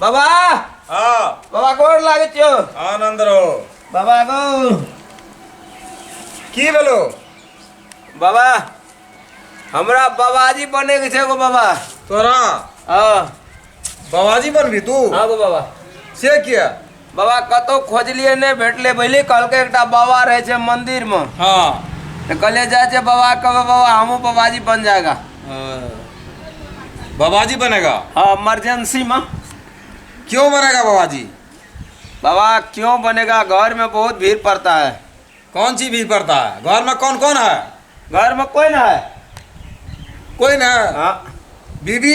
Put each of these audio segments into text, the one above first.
बाबा हाँ बाबा गोर लागे छो आनंद रहो बाबा गो की भेलो बाबा हमरा बाबाजी बने के छे गो बाबा तोरा हाँ बाबाजी बनबी तू हाँ गो बाबा से किया बाबा कतहु खोजलियै नहि भेटलै बुझलियै कहलकै एकटा बाबा रहै छै मन्दिरमे हँ तऽ कहलियै जाइ छै बाबा कहबै बाबा हमहूँ बाबाजी बन जाएगा बाबाजी बनेगा हँ इमरजेंसीमे क्यों बनेगा बाबाजी बाबा क्यों बनेगा घरमे बहुत भीड़ पड़ता है कौन चीज भी पड़ता है घर में कौन कौन है घरमे कोइ ना है कोई ना है हाँ बीबी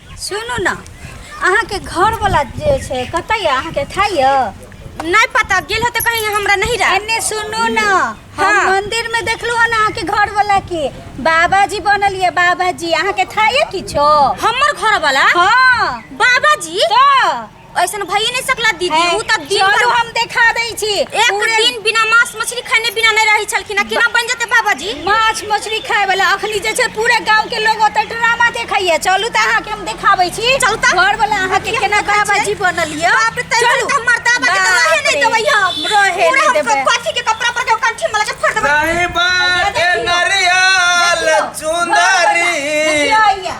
सुनू ने अहाँके घरवला जे छै कतऽ यऽ अहाँके खाइ यऽ नहि पता गेल होते कहीं हमरा नहीं रहा एने सुनू ने हम हाँ। मंदिर में देखलू हन अहाँके घरवला के बाबाजी बनल ये बाबाजी अहाँके खाइए किछो हमर घरवला हाँ बाबाजी तो ऐसन भइए नहीं सकला दीदी हैं, उ त दिन चलू भर हम देखा दै छी एक पूरे दिन बिना मांस मछली खैने बिना नहीं रही छलखिन आ केना बन जेते बाबा जी माछ मछली खाए वाला अखनी जे छै पूरे गांव के लोग ओतऽ ड्रामा देखैया चलू तऽ अहाँके हम देखाबै छी चलू तऽ। घर वाला अहाँके की केना हमरा बाबा छै? जी बनल यऽ बाप रे तै चलू। त मरता बा के त रहे बाप नहीं रे। देबै हम रहे पूरा नहि हम देबै। कथी के कपड़ा पर के कंठी में लगा फोड़ देबै साहिबा के देखियो। नरियल देखियो। चुंदरी देखियो अइया।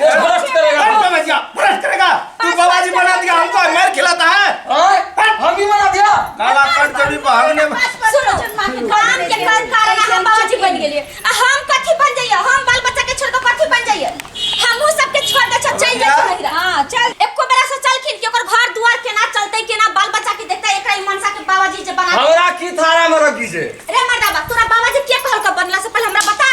ये बर्दाश्त करेगा हट समझ गया बर्दाश्त करेगा तू बाबा जी बना दिया हमको मार खिलाता है ओए, हम ही बना दिया काला कट कभी भागने सुनो काम के काम कारण हम बाबूजी बन गेलिए आ हम कथी बन जाइए हम बाल बच्चा के छोड़ के कथी बन जाइए हमहू सबके छोड़ के सब चल जाइए नहिरा हां चल एको बेरा सोचलखिन कि ओकर घर दुआर केना चलते केना बाल बच्चा के देखते एकरा ई मनसा के बाबूजी जे बना हमरा की थारा में रखी से रे मर्दाबा तोरा बाबूजी के कहल के बनला से पहले हमरा बता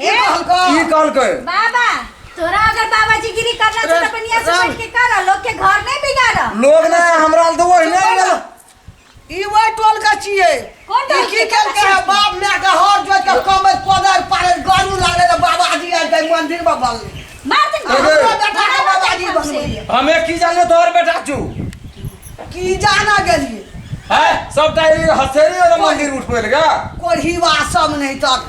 ई कहलकै ई कहलकै बाबा तोरा अगर बाबाजी गिरी करना तो अपन यहाँ से बैठ के कर लोग के घर नहीं बिगाड़ लोग ना हमरा लग तो ओहिने गेल ई वह टोल का छिए कौन टोल ई की के? कहलकै है बाप माय के हर जोत के कमर कोदर पारे गारू लागले त बाबाजी आइ गए मंदिर में बल मार दे अरे। हमरो बेटा के बाबाजी बनलिए हमे की जाने तोहर बेटा छू की जाना गेलिए है सब टाइम हथेली वाला मंदिर उठबे लगा कोढ़ी वासम नहीं तक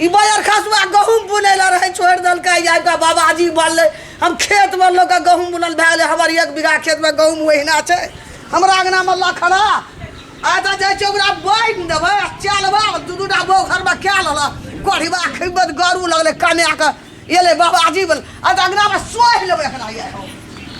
ई बाजार खसुआ गहूँम बुनै लए रहै छोड़ि देलकै आबि कऽ बाबाजी बनलै हम खेतमे लोक के गहूँम बुनल भए गेलै हमर एक बीघा खेतमे गहूँम ओहिना छै हमरा अङ्गनामे लखड़ा आ तऽ जाइ छै ओकरा बान्हि देबै आ चलबै दू दू टा बौ घरमे कए लेलक कोढ़िबा खैबे तऽ गरू लगलै कमाए कऽ एलै बाबाजी बनल आ तऽ अङ्गनामे सोहि लेबै एकरा यए